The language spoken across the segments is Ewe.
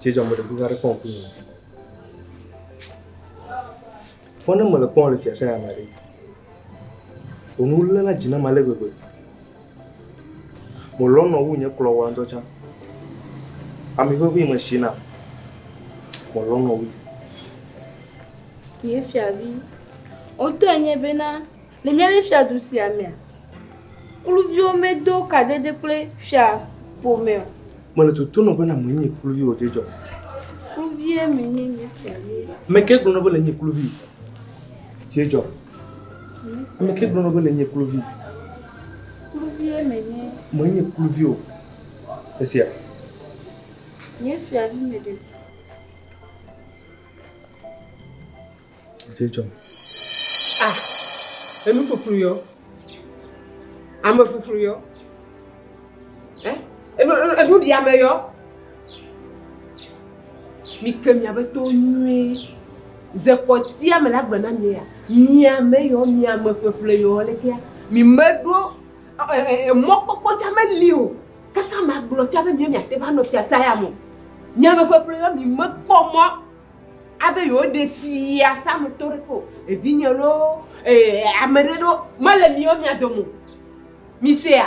Cɛ jɔ mele kuka ɖe kpɔm kunu. Fɔ ne mele kpɔm le fiase ya me ɖe. Onu lé na dzi na ma le gbegbe. Melɔ̃ nɔ wu nye kplɔ wa ŋutɔ tsã. Ami ʋeʋĩ me shi nam. Melɔ̃ nɔ wui. Nye fiavi, wotɔe nye bena le míaƒe fiadu sia mea, kluviwo medo kadede kple fia ƒome o. Mele toto nɔ bena menye kluvi o dzedzɔ. Kluvie menye nye fiavi. Ame ke gblɔ nɔ be le nye kluvi dzedzɔ. Ame ke gblɔ nɔ be le nye kluvi. Kluvie menye. Menye kluvi o. Esia. Nye fiavi me ɖe. Dze dzɔm. Ah, enu fuflu yɔ. Ame fuflu yɔ. Eh, enu enu ɖi ame yɔ. Mike miabe towo nyuie. Ze kpɔtia me la gbe na mi ya. Miame yɔ, miame ƒeƒle yɔ lekea. Mi meɖo mɔkpɔkpɔ tsa meli o. Kaka magblɔ tsa be miɔ miate va nɔ fiasa ya mo. Miame ƒeƒle yɔ mi mekpɔ mɔ abe yewo ɖe fiasa me tɔ ɖe ko. Evinye lo ame ɖe ɖo mele miɔ mia domo. Misea?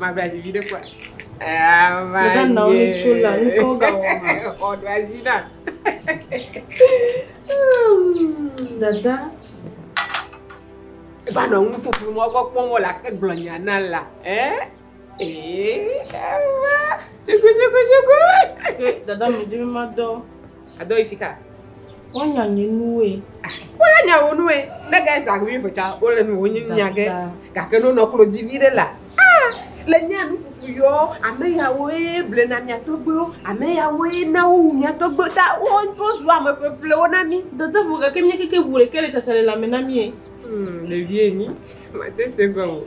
Mabla dzi viɖe kua. Meda nɔ ni tso la ŋkɔ ga wɔ ma. Ɔdɔ azi na. Dada. Eba nɔ ŋu fufu mɔ gbɔ kpɔm wɔ la ke gblɔ nya na la. Eh? Eh, ewa. Shugu shugu shugu. Dada mi dimi ma dɔ. Adɔ yi fika. Wọ́n nya nye nuwe. Wọ́n nya wò nuwe. Ne gɛ zã wi fetsa, wọ́n le nu wò nyi nya gɛ. Gake ne wonɔ klo divi ɖe la, ah, le nya nu fufu yɔ, ame ya woe ble na mia tɔgbe wo, ame ya woe na wo wu mia tɔgbe ta, wo ŋutɔ zu ame ƒeƒle wo na mi. Dada vɔ gake mia keke ŋu ɖeke le tsatsa le la me na mi e. Hmm, le vie nyi. Ma te se gɔ o.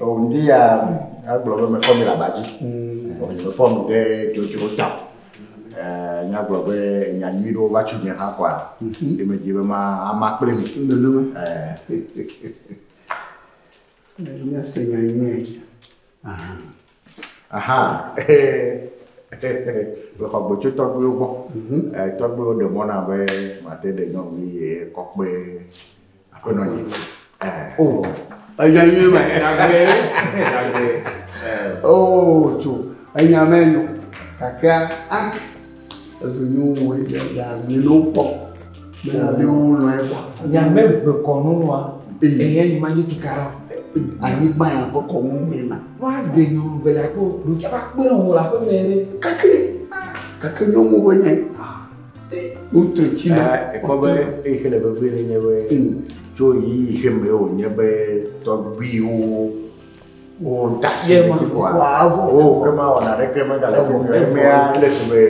O ndi ya agblɔ be mefɔ mi le aba dzi. Mm. O mefɔ mi ɖe dzodzro ta. Eh, nya gblɔ be nya nyui ɖewo va tso nye hã kɔa. Mhm. Ɖe medzi be ma ama kple mi. Nenema. Eh. Nya se nya nyui. Aha. Aha. Le xɔ gbɔtso tɔgbuiwo gbɔ. Mhm. Eh, tɔgbuiwo ɖe mɔna be mate ɖe nyɔnu ye kɔkpe. Aƒenɔ nye. O, enya nyuie ma. O, tso, enya me nyo. Kakea, a, ezu nyo wo yi ɖe ya mi no kpɔ. Mɛ ale wo nɔ ye kpɔ. Ya mɛ ʋe kɔnu wa. Eye yi ma nye kikara. Anyigba ya ƒe kɔnu mɛ ma. Wa ɖe nyo nu vele akpo. Ɖo kya va kpe nɔ wo la ƒe mɛ ɖe. Kake, kake nyo mo be nye. Wotrɔ tsi na. Ekpɔ be eyi ke le vevie ɖe nye be mm. tso ɣeyiɣi ke me wònye be tɔgbuiwo wodasi ɖe dzi kɔa wo ke ma wɔna ɖeke megale fi mi emea le si be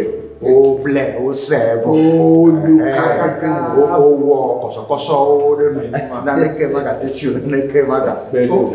woble wose vɔ wowɔ kɔsɔkɔsɔwo ɖe nu naneke magate tsi o naneke magakpe o.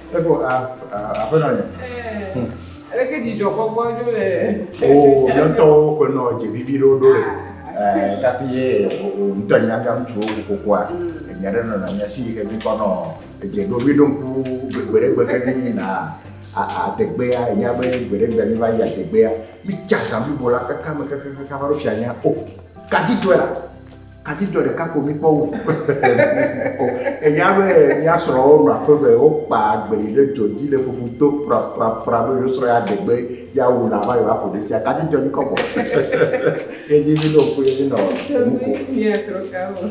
Eƒo a aƒenɔ nye. Aleke dzidzɔkpɔkpɔ ɖo le. O mía ŋutɔwo ƒe nɔ dze vivi ɖo ɖo le. Tafi ye ŋutɔ nya gã ŋutsuwo kokokua. Enya ɖe nɔ na si ke dzi kɔ nɔ edze ɖo vi ɖo ŋku gbegbe ɖe gbe ke mi na adegbea nya be gbe ɖe gbe mi va yi adegbea. Mi tsa zã blibo la kaka me kaka kaka va ɖo fianya o. Gadi tɔe la. Atitɔ ɖeka ko mi kpɔ wu. Enya be mia srɔ̃wo nɔ aƒe me, wokpa agbeli ɖe dzɔ dzi le fufu to frafrafra be yewo srɔ̃ ya de gbe ya wu la va yewa ƒo ɖe tia. Kati dzɔ mi kɔ bɔ. Ye dzi mi ɖo ku ye mi nɔ nu ko. Mia srɔ̃ ka wo.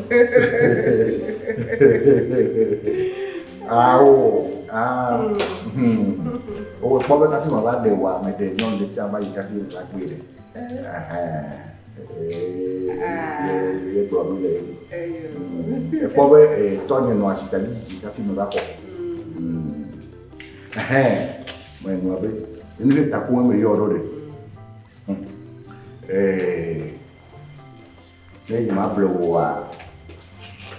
Awo. Ah. Hmm. Wo kpɔ be kati ma va de wa me de nyɔnu ɖe tia va yi kati va gbé ɖe. Eh. Ekpɔ be tɔnye nɔ asi kadi tsitsi hafi me va kɔ. Ɛhɛn, me nɔ be enu ɖe taku me yɔ ɖo ɖe. Ne yi ma ble woa,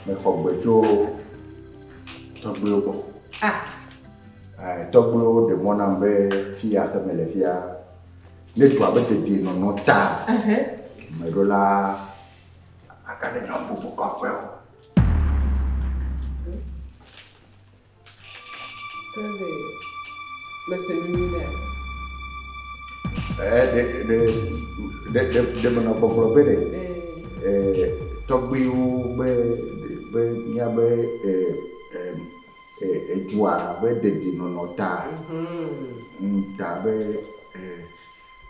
me xɔ gbe tso tɔgbuiwo gbɔ. Ah! Tɔgbuiwo ɖe mɔ nam be fi ya ke me le fia Ne dua be dedienɔnɔ ta meɖola aka ɖe nyɔnu bubu kɔƒe o. Tɛlɛ, mese nu nyui ɖe. Ɛɛ, ɖe ɖe ɖe ɖe ɖe menɔ gbɔgblɔ be ɖe ɛɛ tɔgbuiwo be be mía be ɛɛ ɛɛ. edzua be dedienɔnɔ ta ta be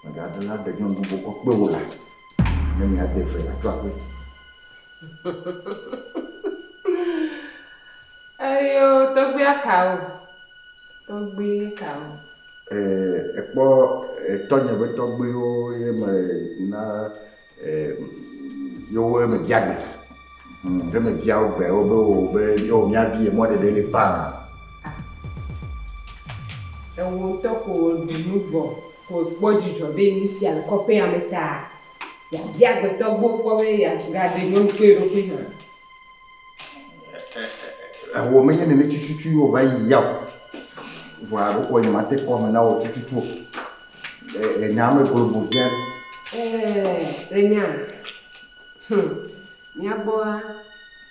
mègaɖela ɖe nyɔnu bubu kɔ kpe wò la, ne miade fe la, tso aƒe. Eyo tɔgbia kawo? Tɔgbi kawo? Ekpɔ tɔnye be tɔgbiwo ye me na Ye wo me bia gbe. Hm, ye me bia wo gbe, wo be wo oh, be yo mia vi ye mɔ ɖeɖe le faa. Ewo ŋutɔ ko ɖu nu vɔ, ko kpɔ dzidzɔ be nu sia le kɔƒea me ta. Ya bia gbetɔ gbo kpɔ be ya ga ɖe nyɔnu kple eɖokui hã. Eho menye nene tututu ye wòva yi ya o. Vɔa ɖeko nyemate kpɔ ame na wò tututu o. Le, le nya me globo dzia. Ɛɛ, le nya. Hm, mía gbɔa,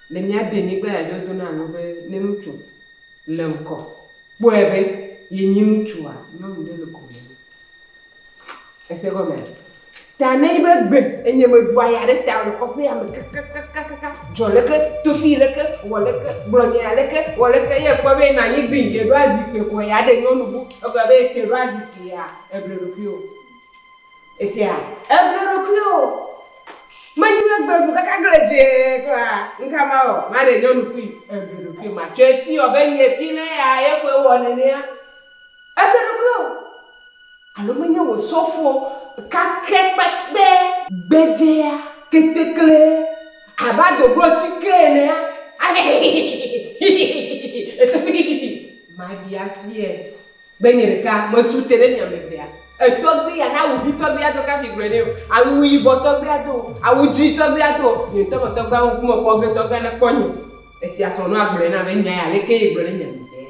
le mía denyigba ya dzi wodona nu be ne ŋutsu le ŋkɔ kpɔe be yenye ŋutsua, nyɔnu ɖe le gome nɛ. Ese gɔmea? Ta ne nyi be gbe enye meɖua ya ɖe ta le kɔƒea me kakakakaka dzɔ leke tofi leke wɔ leke gblɔ nya leke wɔ leke ye kpɔ be na nyi gbi ɖe ɖo azi kpe kɔ ya ɖe nyɔnu bu egblɔ be ke ɖo azi kpe ya eble ɖokui o. Esia eble ɖokui o. Me nyi be gbe ɖu kaka gle dze kɔa nka ma o ma ɖe nyɔnu kui eble ɖokui ma tsɔ esi wɔ be nye pi le ya ye kɔe wɔ nenea. Eɖe ɖokui o. Alo menye wò sɔfo kake kpekpe. Gbedzea ketekle abe adoglo sike enea, ale hihihihihihihi eto hihihi maɖi afiae be nye ɖeka mesu te ɖe mia me vea. Etɔgbi ya na awu ʋi tɔgbia do kafi gblɔe nɛ o. Awu yibɔ tɔgbia do o. Awu dzi tɔgbia do o. Nye ŋutɔ me tɔgbia ŋku me kpɔ ge tɔgbia ne kpɔ nye. Etia srɔ̃nɔa gblɔe na be nya ya aleke ye gblɔ ɖe mia me vea.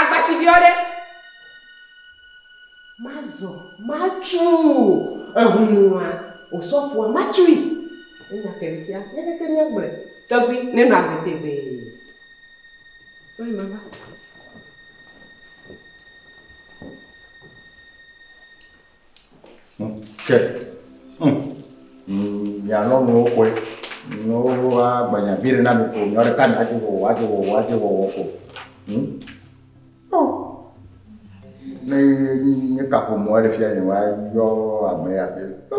Agbasi biɔ ɖe. Mazɔ matsu ehunua osɔfoa matsui. Enya ke fia leke ke nye gble tɔgbi ne nɔ agbe tegbee. Kpɔe ma va. Ke ŋ mia lɔnuwo kɔe ne woa gbanya vi ɖe na mi ko nyɔ ɖeka nya dzi wɔwɔ adzi wɔwɔ adzi wɔwɔ ko ŋ o ne nye kaƒomɔ le fia nye wa yɔ ame ya be o.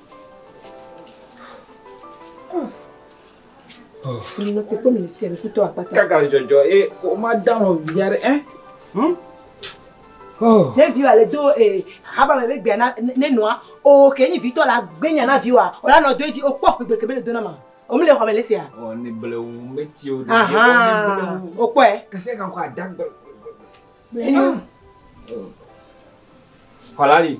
Kaka dzɔdzɔ ye o ma dán o bia ɖe ɛ. Ne viwo ale do ee haba me gbegbe na ne nɔa o ke nyi vitɔ la gbenya na viwoa o la nɔ do edzi o kpɔ gbegbe kebe le do na ma. O mi le xɔ me le sia. O ne bele wu me ti o de. Aha o kpɔ ɛ. Kese kan ko adagbe. Eno. Kɔlali.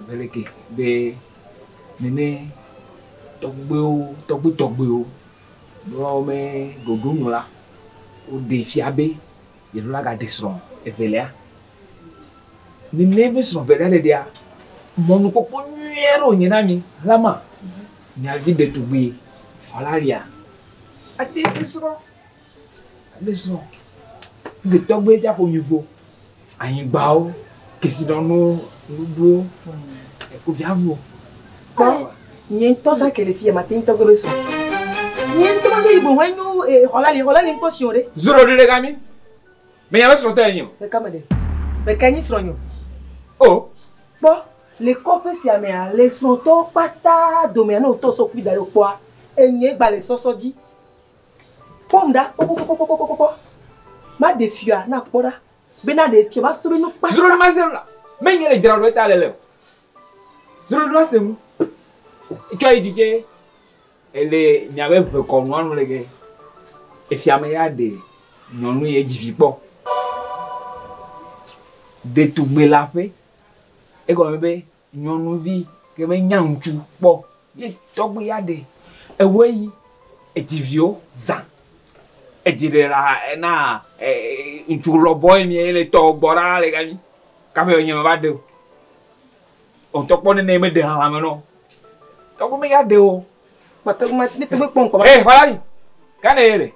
Ebeleke be nene tɔgbuiwo tɔgbui tɔgbuiwo be woawo me ɖoɖo nu la, woɖe fia be yevu la gaɖe srɔ̃ evelia. Nene be srɔ̃ evelia ɖeɖea, mɔnukpɔkpɔ nyui aɖe wònye na mi Alama, miavi ɖetugbui Valaria ate ŋu asrɔ̃. Mízɔ ŋge tɔgbe tsa ƒomivo, anyigbawo, kesinɔnuwo, nuɖuwo, ekuviavuwo. Kpɔ nye ŋutɔ tsa ke le fiya mate ŋutɔ gbe be sɔ. Nye ŋutɔ ma be yibo hɔn nyo e xɔla le xɔla le ŋkpɔ siwo ɖe. Zoro ɖe ɖeka mi. Me nya be srɔ̃ tɔ enyo. Ɖeka me ɖe. Ɖeka nyi srɔ̃ nyo. O. Kpɔ le kɔƒe sia mea le srɔ̃ tɔwo kpata domea ne wotɔ sɔ kpui da ɖe wokpɔa enye gba le sɔsɔ dzi. Kpɔm ɖa kpɔkpɔkpɔkpɔkpɔkpɔ. Maɖe fiɔa na kpɔ ɖa. Bena ɖe fiɔ ma srɔ̃ nu kpa. Zro ɖe ma se nu la. Me nye le dzra ɖo eta le le. Zro ɖe ma se nu. Tsɔ yi dzi tse. Ele nya be ʋe kɔ nua nu le ge. Efia me ya ɖe nyɔnu ye dzi vi kpɔ. Ɖetugbe la ƒe. Egɔ me be. Nyɔnuvi ke me nya ŋutsu kpɔ ye tɔgbe ya ɖe ewe yi edzi viwo zã edzi ɖe la ena ŋutsu lɔ bɔ ye mie le tɔ gbɔ ɖa le gami kaƒe enye me va ɖeo otɔ kpɔ nene me ɖe hame nɔ tɔgbe me ya ɖeo. Mete ŋu me mete ŋu kpɔ ŋkɔ va. Ee xɔla yi gane ye le.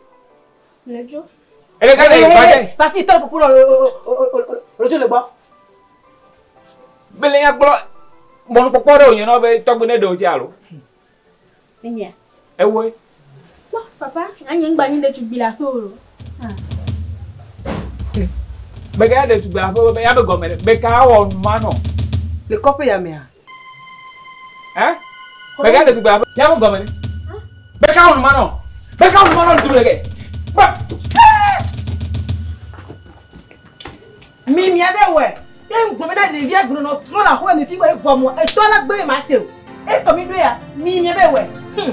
Lejo. Ele ka le ba dɛ. Ba fi tɔ pupu lɔ lejo le gbɔ. Bele ya kplɔ mɔnu kpɔkpɔ ɖe wònye nɔ be tɔgbe ne ɖewo dzi alo. Enyia. Ewoe. Kpɔ papa anyi ŋgba nyi ɖetugbui le aƒe o. Beka ya ɖetugbui aƒe be ya be gɔme ɖe beka awɔ nu ma nɔ. Le kɔƒe ya mea. Hein? Beka de tugbe aƒe. Ya mo gɔme. Beka wonu ma nɔ. Beka wonu ma nɔ tugbe ke. Ba. Mi mi abe wɛ. Ye ngɔme na ɖevi agblɔ nɔ trɔ la xɔ mi fi wɛ gɔmɔ. Etɔ la gbe ma se o. Etɔ mi do ya. Mi mi abe wɛ. Hmm.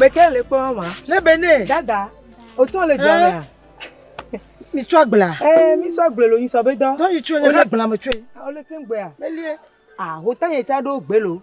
meke le kpɔ ma ne be ne dada o tɔ le jɔ mea mi tsɔ agbla ee mi tsɔ agbla lo nyi sɔ be dɔ dɔ yi tsɔ le agbla me tsɔ yi o le ke gbea elie ah o ta yɛ tsa ɖo gbe lo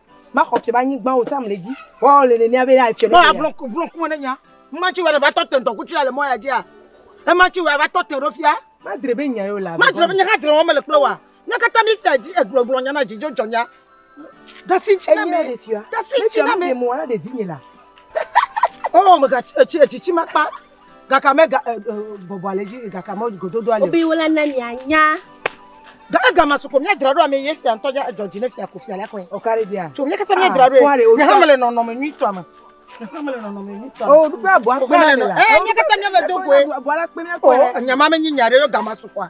Maxɔ fiɔ be anyigba wò tsam le edzi. Woawo le nenea be afiɔ ne. Mɔa blɔ blɔ ŋkume ɖe nya. Ema tsi wɔ ne va tɔ te ŋdɔkutsu ya le mɔ ya dzia. Ema tsi wɔ va tɔ te ɖo fia. Madre be nya yewo le avi. Madre be nya hã dre wɔm mele kple woa. Mía katã mí fia dzi egblɔ gblɔ nya na dzi dzo dzɔ mía. Ɖasi ŋtsi na mí. Ɖasi ŋtsi na mí. Mí ɖe fiɔ mí ɖe mɔ na ɖevi nye la. Oh mega etsi etsi tsi makpa. gaka me ga bɔbɔ ale dzi gaka me gododo ale. Obi wòle ne mianya. Ga ega ma suko mia dzra ɖo ame ye fia ŋutɔ dza dzɔ dzi ne fia ko fia la kɔe. Ɔkari dia. Tso mia kata mia dzra ɖo ye. Ne hame le nɔnɔme nyui tɔ ame. Oh, ɖukpe abɔ akpe na le la. Eh, mia kata mia me do koe. Abɔ la kpe mia kɔe. Oh, nyama me nyi nya ɖe yo gama sukua.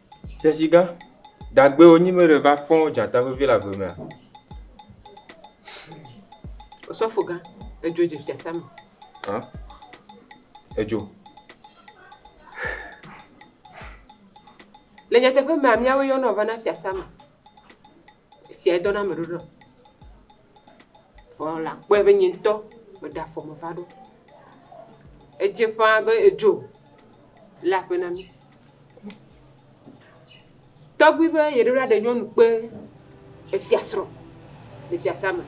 Tesiga, Dagbe wonyi me ɖe va fɔ̃ dzata vevi le agbe mea? Osɔfoga, Edzo dze fiasã me. Hã? Edzo. Le nyateƒe mea, míawoe yɔnɔ vana fiasã me. Esia edɔ na ame ɖoɖo. Vɔ la kpɔe be nye ŋutɔ meɖe afɔ me va ɖo. Edze ƒãa be edzo le aƒe na mí. Tɔgbui be yeɖo la ɖe nyɔnu kpe efiasrɔ̃ le fiasã me.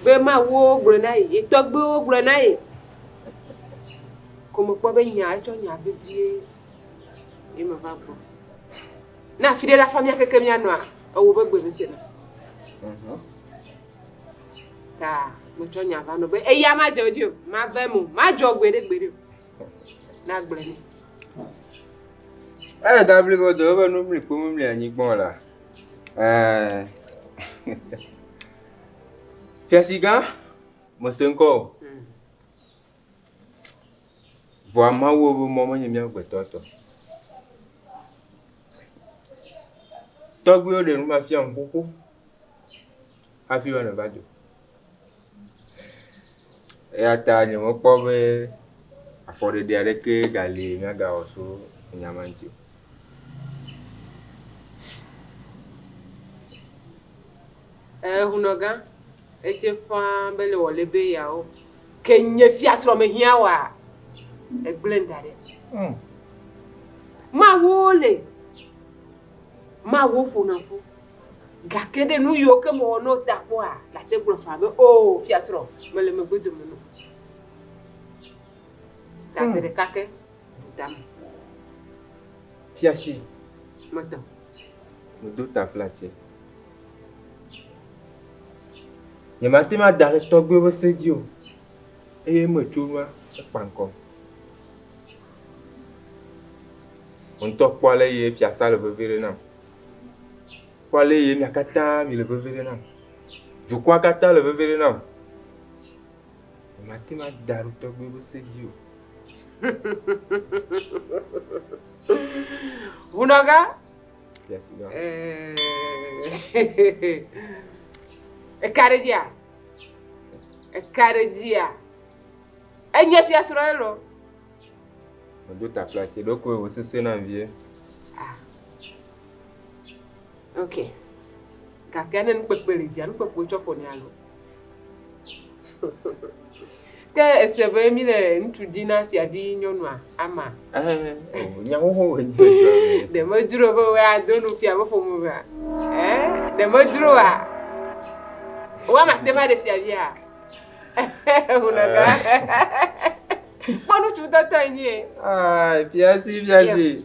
Be mawuwo gblɔ na ye, ye tɔgbuiwo gblɔ na ye. Ko mekpɔ be nya etsɔ nya vevie. Ye meva gbɔ. Ne afi ɖe la fa míakeke míanɔa, ewɔ be gbe mese na. Mhm. Ta metsɔ nya va nɔ be eya madzɔ dzi o, mave mo, madzɔ gbe ɖe gbe ɖe o. Na gblɔ ne. Eye da blibo do ebe nu mli kpo mu mli anyi gbɔn la. Eh. Fiasi gã, mese ŋkɔ o. Vɔa Mawu ƒe mɔ menye mía amegbetɔ tɔ o. Tɔgbuiwo ɖe nu va fia nu xoxo hafi be neva dzo. Eya ta nyemekpɔ be afɔɖeɖe aɖeke gali míagawɔ tso nya ma ŋuti o. Ɛɛ, hunɔgã. Edze ƒãa be le wòle be yeawo, ke nye fiasrɔ̃ mehiã wa, egblẽm da ɖi. Mawuwo li, mawuwo ƒona ƒu, gake ɖe nu yiwo ke mewɔ na wo ta kpɔa, nàte gblɔ faa be, Oo, fiasrɔ̃, mele megbedome na wò. Tazeɖekake. Dutame. Fiasi. Mɔtɔ. Medo ta kple ati. Nyemate ŋu ada ɖe tɔgbuiwo ƒe se dzi o, eye metso nua ekpa ŋkɔ. Wò ŋutɔ kpɔ ale ye fiasa le vevie ɖe nam. Kpɔ ale ye mia katã mile vevie ɖe nam. Dukɔa katã le vevie ɖe nam. Mate ŋu ada ɖe tɔgbe ƒe se dzi o. Ŋunɔga? Yes, no. Eka ɖe dzia? Eka ɖe dzia? Enye fiasrɔ̃ ye lɔ. Medo taflatse ɖokoe wòsesẽ nam vie. Ok. Gakea ne nukpekpe li dzia, nukpekpe wotsɔ ƒonɛ alo? Ke èsɔe be mi le ŋutsu di na fiavi nyɔnua, ama? Ɛɛ, o, nya xoxo wòe nye edzɔa me. Ɖe medzro be wòe ado nu fia be ƒome mea? Ɛɛ, ɖe medzroa? Wò ama ate ŋu aɖe fiavia? Hunɔdɔa. Kpɔ ŋutsu ŋutɔtɔe nyie. Aa, fiasi, fiasi.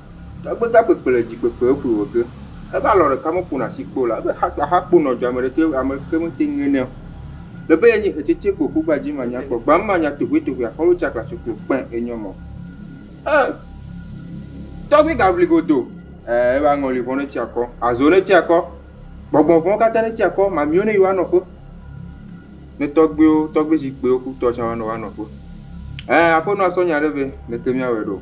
Egbe ta kpekpe le dzi kpekpe eƒoe wɔ ge. Ebe alɔ ɖeka me ƒona asi kpɔ o la, ebe xa kpa xa kpo nɔ dzi ame ɖeke ame ɖeke me te ŋe nɛ o. Le be ye nyi hetsetse kpo ƒu gba dzi ma nya kpɔ gba ma nya tohue tohue a xɔlo tsa klaso kpo kpɛ enyɔ mɔ. E tɔgbi ga vli godo e ebe aŋɔli vɔn ne tsi akɔ, azo ne tsi akɔ, gbɔgbɔn vɔn kata ne tsi akɔ, mamiwo ne yi wa nɔƒe. Ne tɔgbiwo, tɔgbi zikpiwo ku tɔ tsa wa nɔ wa nɔƒe. E aƒenɔ asɔ nya ɖe vɛ, leke mia wɛ ɖo.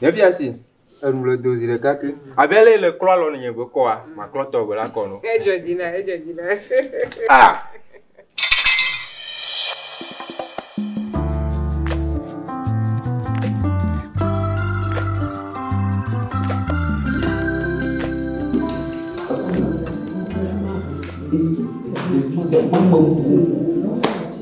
Efia si enu le do zi ɖeka ke. Abe lɛ le klɔ alɔ ne nye gbe kɔa, ma klɔ tɔ gbe la kɔ no. Edzɔ dzi na, edzɔ dzi na. Ah! Thank you.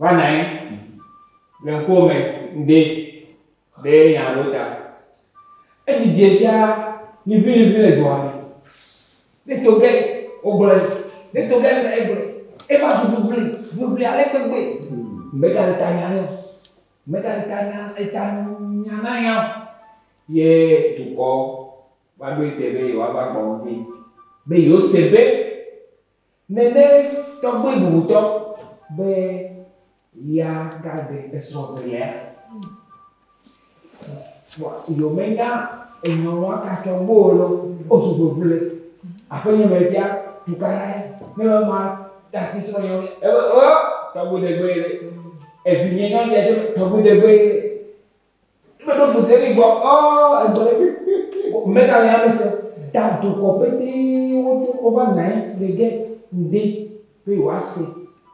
Va nɔ anyi le ŋkuwò me ŋde be nya aɖewo ta. Edzidze fia liʋiliʋi le dua me. Ne to ge wogblɔe, ne to ge ame ɖe gblɔe, eva zu ʋliʋli, ʋliʋli ale gbegbe. Mega le ta nya nɛ o. Mega le ta nya eta nya na nya o. Ye dukɔ va ɖoe te be yewoava gbɔ ŋdi be yewose be. Nène tɔgbui bubutɔ be ya gade esrɔ̃ velia. Vɔ yio menya enyɔnua katsɔ gbɔ o lɔ o su vevule le aƒe nye me fia tuka la ye ne me ma tasi srɔ̃ nyɔ me ebe o tɔgbui degbe ye le evi nye nyɔ dia tɔgbui degbe ye le. Eme ɖo fu zeli gbɔ ɔ egbɔ ɖe mega le ame se da dokɔ pete wo tso wo va nae le ge ŋde be yo ase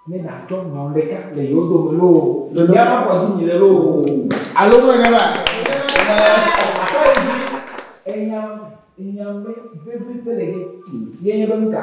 ne na tsɔ nɔ ɖeka le yo do me loo ya ma kɔ dzi mi le loo alo me ne ma sɔ yi dzi enyam enyam be be be be le ge ye nye be ŋka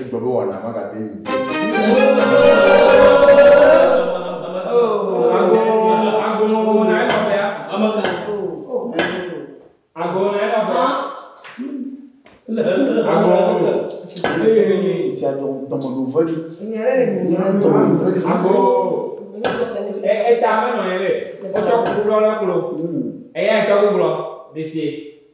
Egbe be wɔna magate yi dzi. Eya etɔ gugblɔ la klo eya etɔ gugblɔ ɖesie.